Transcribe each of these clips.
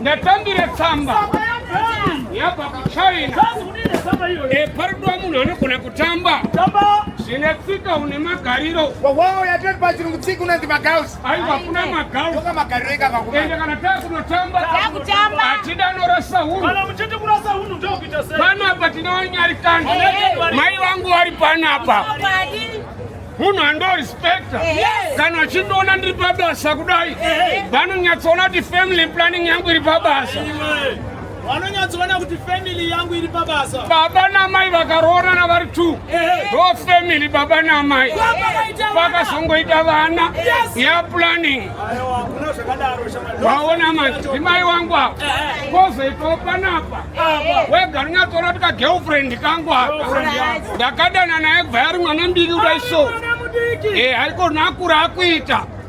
ndatambire tsamba yabva kuchina eparudwa eh, munhu anogona kutamba zvine tsika une magariro wawawo yatoti pachirungu tsika unonzi magaus aiwa hakuna magau ende kana takunotamba hatida norasa unupanapa tinowanyarikana mai vangu vari panapa munhu andorispekta kana achindiona ndiri pabasa kudai vanonyatsoona kuti family planning yangu iri pabasa vanonyatsoona kuti family yangu iri pabasa baba namai vakaroorana vari two ndo family baba namai vakazongoita vana ya planning vaona madzimai wangu ava kozoitawo panapa wega rinyatsoona kuti kagirlfriend kangu aka ndakadana naye bva yari mwana mbiri kudai so eh, haikona akura akuita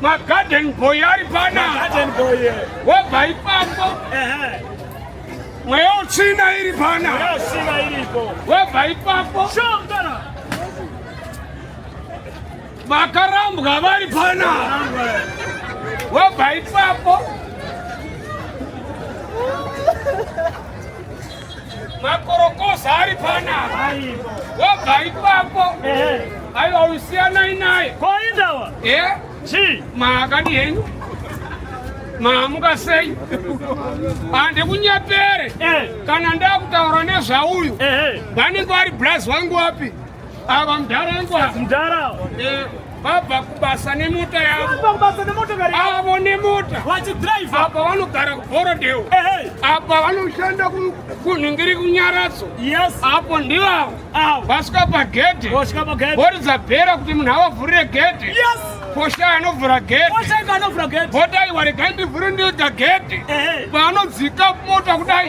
magarden boy ari pana wobva ipapo mweya utsvina iri pana wobva ipapo vakarambwa vari pana wobva ipapo makorokoza ari panapa wobva ipapo aiwa usiyanai naye koindawa e eh? chii maakadi henyu maamuka sei handikunyepere eh. kana ndakutaura nezvauyu vanenge vari braz wangu wapi Ava mdara ngwa. Mdara. Eh. vabva kubasa nemota yavobasa nemotokari avo nemota vachidrive apa vanogara kuborodeo apa vanoshanda kunhingiri kunyaradzo yes apo ndivavo vasvika pagedhe voridza bhera kuti munhu avavhurire gedhe yes posha anovhura gedhe votaiwa regai ndivhure ndiga gedhe paanodzika mota kudai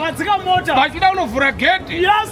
vachida kunovhura gedhe yes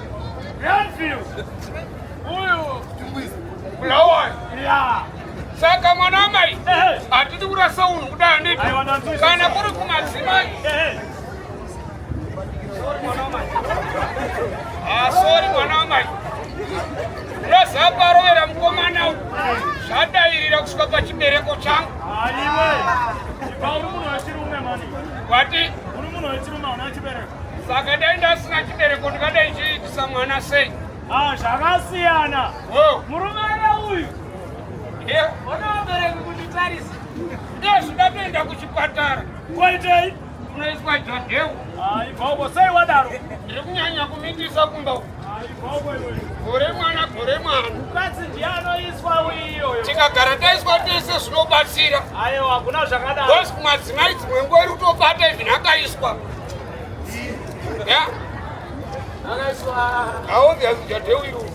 saka mwana amai hatidi kurasa unhu kudai anditi kana kuri kumadzimai asori ah, mwana amai unozaparovera mukomana u zvadairira kusvika pachibereko changu wati Saka dai ndasina chibereko ndingadai chiitisa mwana sei? Ah, zvakasiyana. Oh. Murume ana uyu. Yeah. Ona vabereki kunditarisa. Ndezvo ndatoenda kuchipatara. Kwaitei? Unoiswa jodhewu. Ah, ibvoko sei wadaro? Ndiri kunyanya kumitisa kumba uku. gore mwana gore mwana mukadzi ndiye anoiswa uyiyoyo tikagara taiswa tese zvinobatsira aiwa hakuna zvakadaro bcause kumadzimai dzimwe nguva iri kutobata even akaiswa ya akaiswaauyadewiru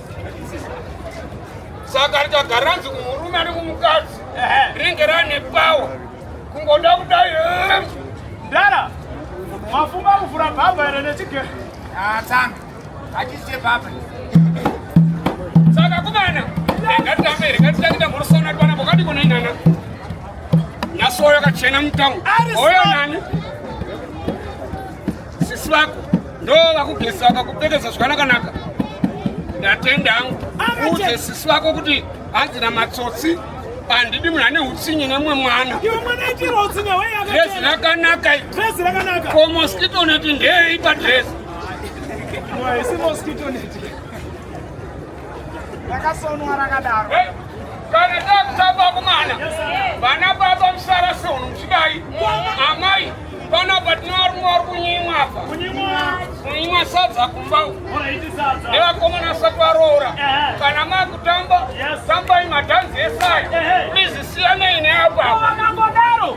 saka richagaranzi kumurume ane kumukadzi rinenge rane pawa kungoda kudai ndara mafunga kuvhura bhabha ere nechigero atanga ah, saka kumana ngatitambe ngatitange tamborosana kwana pokati kunoinana nyaso yakachena mutamu oyo nani sisi vako ndo vakugeza vakakupfekeza zvakanakanaka ndatenda angu uudze sisi vako kuti hanzi na matsotsi handidi munhu ane utsinye nemumwe mwana dresi rakanaka ko moskito neti ndeyei padresi Haisi mosquito net. Rakasonwa rakadaro. Kana takutamba kumana. Vana baba musara sono muchidai. Amai pana patinarumwa vari kunyimwa apa. Kunyimwa sadza kumba. Nevakomana asati varoora. Kana makutamba tambai madhanzi esaya. Please siyanei neapa. Vakangodaro.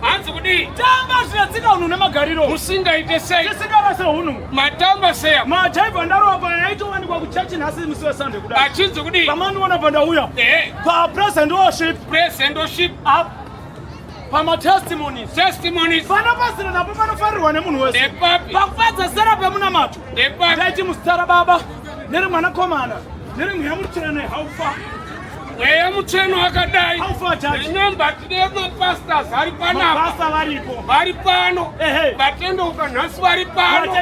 hanzi kudii tamba zviya tsika hunhu nemagariro musingaite sei tisingarase hunhu matamba seya majaivha ndarova paya yaitowanikwa kuchachi nhasi musi wesande kuda achinzi kudii pamandiona pandauya papresent worship present worship up pamatestimonies testimonies pana pasina napo panofarirwa nemunhu wese pakufadza sera pemunamato ndaiti musitara baba neri mwanakomana neri mweya mutsvene haufa Mweya mutsveno wakadai nenyamba tine mapastors ari panapa vari pano vatendeuka nhasi vari pano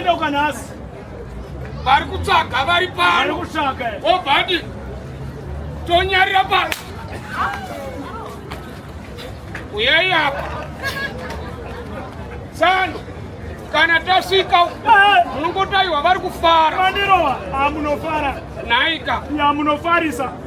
vari kutsvaga vari pano obadi tonyarira pano uyai apa tsano kana tasvika munongotaiwa vari kufara naika yamunofarisa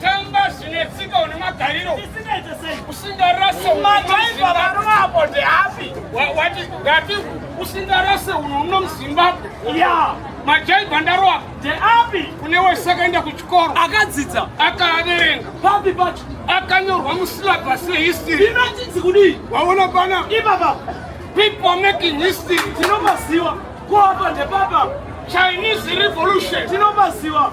tamba zvine tsika une magariro usingarase madhaiva varume apo ndeapi wati ngati usingarase uno uno muzimbabwe ya majaiva ndaroa ndeapi kune wese akaenda kuchikoro akadzidza akaaverenga papi pacho akanyorwa musilabhasi yehistory inochinzi kudii waona pana ipapa people making history tinomaziwa kuapa ndepapa chinese revolution tinomaziwa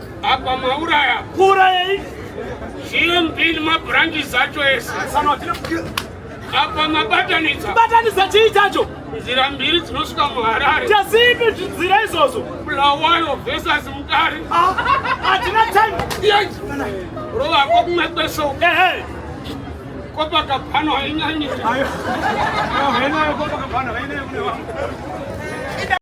Apa mauraya. Kuurayei? GMB nemabranches zacho ese. Apa mabatanidza. Batanidza chii chacho? Nzira mbiri dzinosvika muHarare. Chazipi nzira izvozvo? Bulawayo versus Mutare. Ah, hatina time. Yes. Rova ko kumwe kweso. Ehe. Copacabana hainyanyi. Hainayo Copacabana, hainayo kune vanhu.